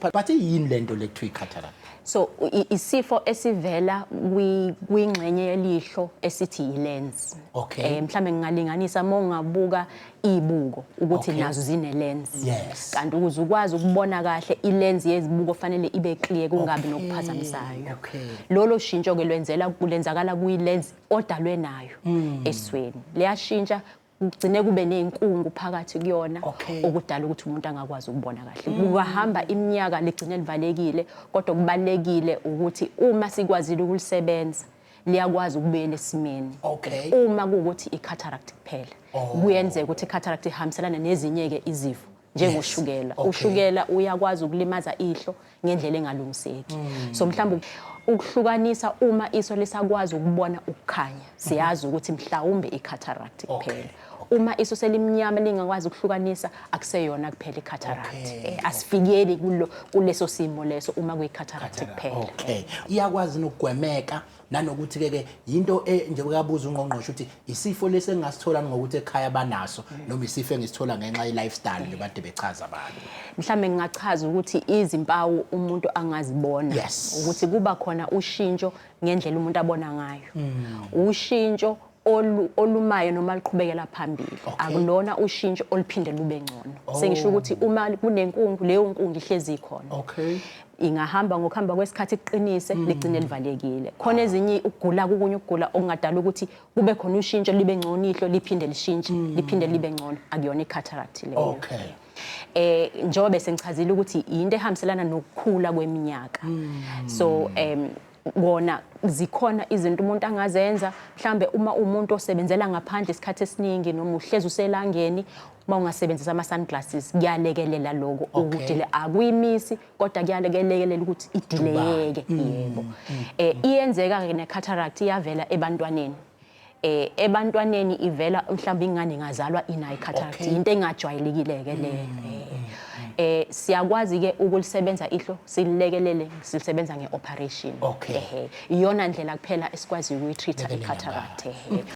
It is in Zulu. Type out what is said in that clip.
But but yini lento le kuthiwa i-cataract? so i- isifo esivela kwi- kwingxenye yelihlo esithi yi-lens Okay. Eh, mhlawumbe ngingalinganisa uma ungabuka iy'buko ukuthi Okay. nazo zine-lens Yes. kanti ukuze ukwazi ukubona kahle i-lens yezibuko fanele ibe clear kungabi Okay, nokuphazamisayo okay. lolo shintsho-ke lwenzela lenzakala kwi-lens odalwe nayo Hmm. esweni liyashintsha kugcine kube nezinkungu phakathi kuyona okay. okudala ukuthi umuntu angakwazi ukubona kahle mm. kungahamba iminyaka ligcine livalekile kodwa kubalekile ukuthi uma sikwazile ukulisebenza liyakwazi ukubuyela esimeni okay. uma kuwukuthi i-cataract kuphela oh. kuyenzeka ukuthi i-cataract ihambiselana nezinye-ke izifo njengoshukela Yes, okay. ushukela uyakwazi ukulimaza ihlo ngendlela engalungiseki Mm. so mhlawumbe ukuhlukanisa uma iso lisakwazi ukubona ukukhanya siyazi ukuthi mhlawumbe i-cataract kuphela uma iso selimnyama lingakwazi ukuhlukanisa akuseyona kuphela i-cataract Okay, Eh, asifikeli kulo kuleso simo leso uma kuyi-cataract kuphela okay iyakwazi nokugwemeka nanokuthi ke ke into e, njengoba kabuza ungqongqoshe ukuthi isifo lesi engasithola ngokuthi ekhaya banaso noma isifo engisithola ngenxa ye lifestyle nje bade bechaza abantu mhlambe ngingachaza ukuthi izimpawu umuntu angazibona yes. ukuthi kuba khona ushintsho ngendlela umuntu abona ngayo mm. ushintsho olu olumayo noma liqhubekela phambili Okay. akulona ushintsho oluphinde lube ngcono sengisho ukuthi uma kunenkungu leyo nkungu ihlezi ikhona okay ingahamba ngokuhamba kwesikhathi kuqinise ligcine livalekile khona ezinye ukugula kukunye ukugula okungadala ukuthi kube khona ushintsho libe ngcono ihlo liphinde lishintshe liphinde libe ngcono akuyona i-cataract leyo okay eh njengoba bese ngichazile ukuthi yinto ehambiselana nokukhula kweminyaka so em kona zikhona izinto umuntu angazenza mhlambe uma umuntu osebenzela ngaphandle isikhathi esiningi noma uhlezi uselangeni uma ungasebenzisa ama-sunglasses kuyalekelela loko okay. ukudile akuyimisi kodwa kuyalekelela ukuthi idileyeke mm, yebo mm, um mm. eh, iyenzeka-ke ne-cataract iyavela ebantwaneni eh ebantwaneni ivela mhlawumbe ingane ingazalwa inayi cataract okay. into engajwayelekile ke le mm. eh, eh, mm. eh siyakwazi ke ukulisebenza ihlo sililekelele silisebenza ngeoperation okay. eh iyona ndlela kuphela esikwazi ukuyitreata icataract eh mm.